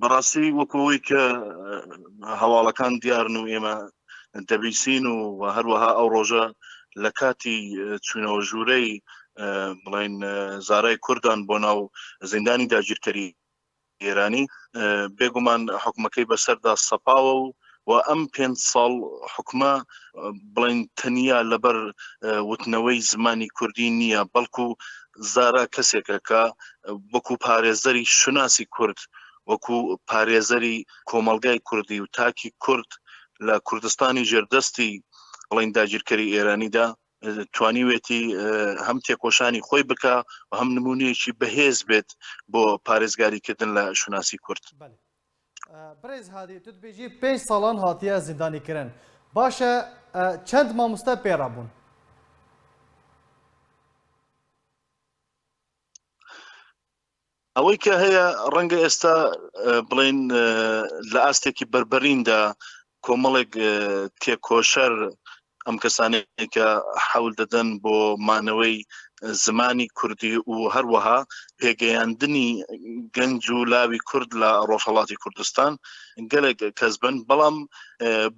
بەڕاستی وەکەوەی کە هەواڵەکان دیارن و ئێمە دەبیسین و هەروەها ئەو ڕۆژە لە کاتی چوینەوە ژوورەی بڵین زارای کوردان بۆ ناو زیندانی داگیرکەری ئێرانی بێگومان حکومەکەی بەسەردا سەپاوە و و ئەم پێنج ساڵ حکومە بڵین تەنیا لەبەر وتنەوەی زمانی کوردی نییە بەڵکو زارا کەسێکە کە وەکو پارێزەری شوناسی کورد وەکو پارێزەری کۆمەلگای کوردی و تاکی کورد لە کوردستانی ژێردەستی بڵین داگیرکەری ئێرانیدا توانیوێتی هەم تێکۆشانی خۆی بکە و هەم نمونەیەکی بەهێز بێت بۆ پارێزگاریکردن لە شوناسی کورد بریز هادی تو دبیجی پینج سالان هاتیە زیندانی کرن باشە چەند ماموستا پیرا بون؟ ئەوەی کە هەیە ڕەنگە ئێستا بڵین لە ئاستێکی بربەریندا کۆمەڵێک تێکۆشەر ئەم کەسانەی کە حەول دەدەن بۆ مانەوەی زمانی کوردی و هەروەها پێگەیاندنی گەنج و لاوی کورد لە ڕۆژهڵاتی کوردستان گەلێک کەس بن بەڵام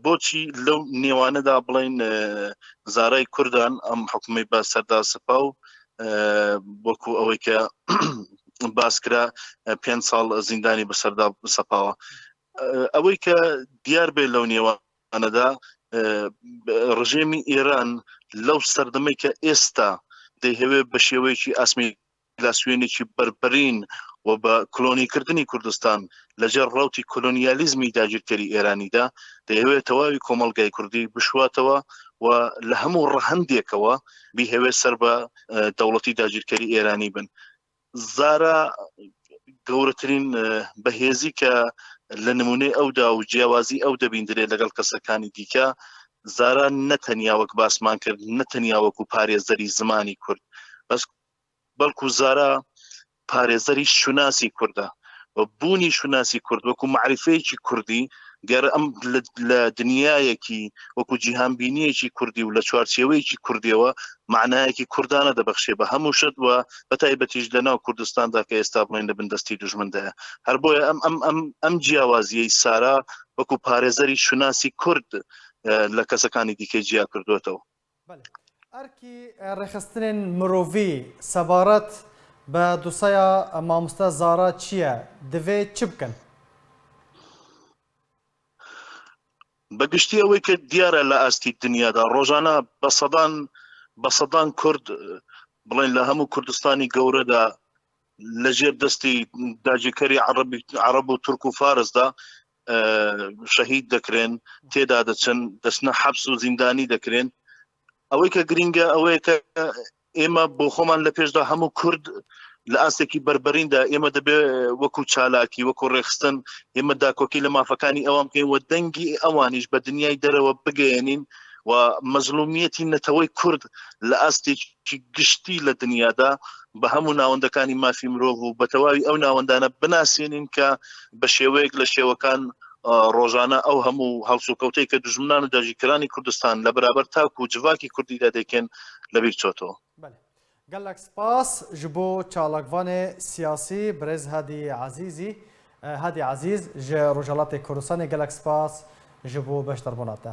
بۆچی لەو نێوانەدا بڵین زارای کوردان ئەم حکومی بە سەردا سپا و وەکو ئەوەی کە باسکرا پێ ساڵ زیندانی بەسەردا سەپاوە ئەوەی کە دیار بێ لەو نێوانەدا ڕژێمی ئێران لەو سەردەمەی کە ئێستا دەیهەوێ بە شێوەیەکی ئاسمی لاسوێنێکی بەربرین و بە کلۆنیکردنی کوردستان لەجێر ڕوتی کلۆنیالیزمی داگیرکەری ئێرانیدا دەیەوێت تەواوی کۆمەلگای کوردی بشواتەوە و لە هەموو ڕەهندێکەوە بیهەوێت سەر بە دەوڵەتی داگیرکەری ئێرانی بن زارا گەورەترین بەهێزی کە لە نمونەی ئەودا و جیاوازی ئەو دەبیندرێت لەگەڵ کەسەکانی دیکە زارا نەتەنیا وەک باسمان کرد نەتەنیا وەکو پارێزەری زمانی کورد بەس بەڵکو زارا پارێزەری شوناسی کوردە و بوونی شوناسی کورد وەکو معرفەیەکی کوردی گەر ئەم لە دنیایەکی وەکو جیهان بینیەکی کوردی و لە چوارچێوەیەکی کوردیەوە معنایەکی کوردانە دەبخشێ بە هەموو شت وە بە تایبەتیش لە ناو کوردستاندا کە ئێستا بڵێن لە بندستی دژمندایە هەر بۆیە ئەم ئەم ئەم ئەم جیاوازیەی سارا وەکو پارێزەری شوناسی کورد لە کەسەکانی دیکە جیا کردوێتەوە بەلی ئەرکی ڕێکخستنێن مرۆڤی سەبارەت بە دوسەیا ماموستا زارا چیە دڤێ چ بکەن؟ بە گشتی ئەوەی کە دیارە لە ئاستی دنیادا ڕۆژانە بە سەدان بە سەدان کورد بڵێن لە هەموو کوردستانی گەورەدا لە ژێر دەستی داجیکەری عربی عرب و تورک و فارسدا شەهید دەکرێن تێدا دەچن دەستنە حەبس و زیندانی دەکرێن ئەوەی کە گرینگە ئەوەیە کە ئێمە بۆ خۆمان لە پێشدا هەموو کورد لە ئاستێکی بربەریندا ئێمە دەبێ وەکو چالاکی وەکو ڕێخستن ئێمە داکۆکی لە مافەکانی ئەوان بکەین وە دەنگی ئەوانیش بە دنیای دەرەوە بگەێنین و مەزلومیەتی نەتەوەی کورد لە ئاستێکی ی گشتی لە دنیادا بە هەموو ناوەندەکانی مافی مرۆڤ و بە تەواوی ئەو ناوەندانە بناسێنین کە بە شێوەیەک لە شێوەکان ڕۆژانە ئەو هەموو هەڵسوکەوتەی کە دژمنان و داگیرکەرانی کوردستان لە بەرابەر تاک و جڤاکی کوردیدا دەیکەن لەبیر چۆتەوە. بەلێ. گەللەک سپاس ژ بۆ چالاکڤانێ سیاسی برێز هادی عەزیزی، Hadi Aziz، ژ روژهەڵاتێ کوردستانێ گەلەک سپاس ژ بۆ بەشداربووناتە.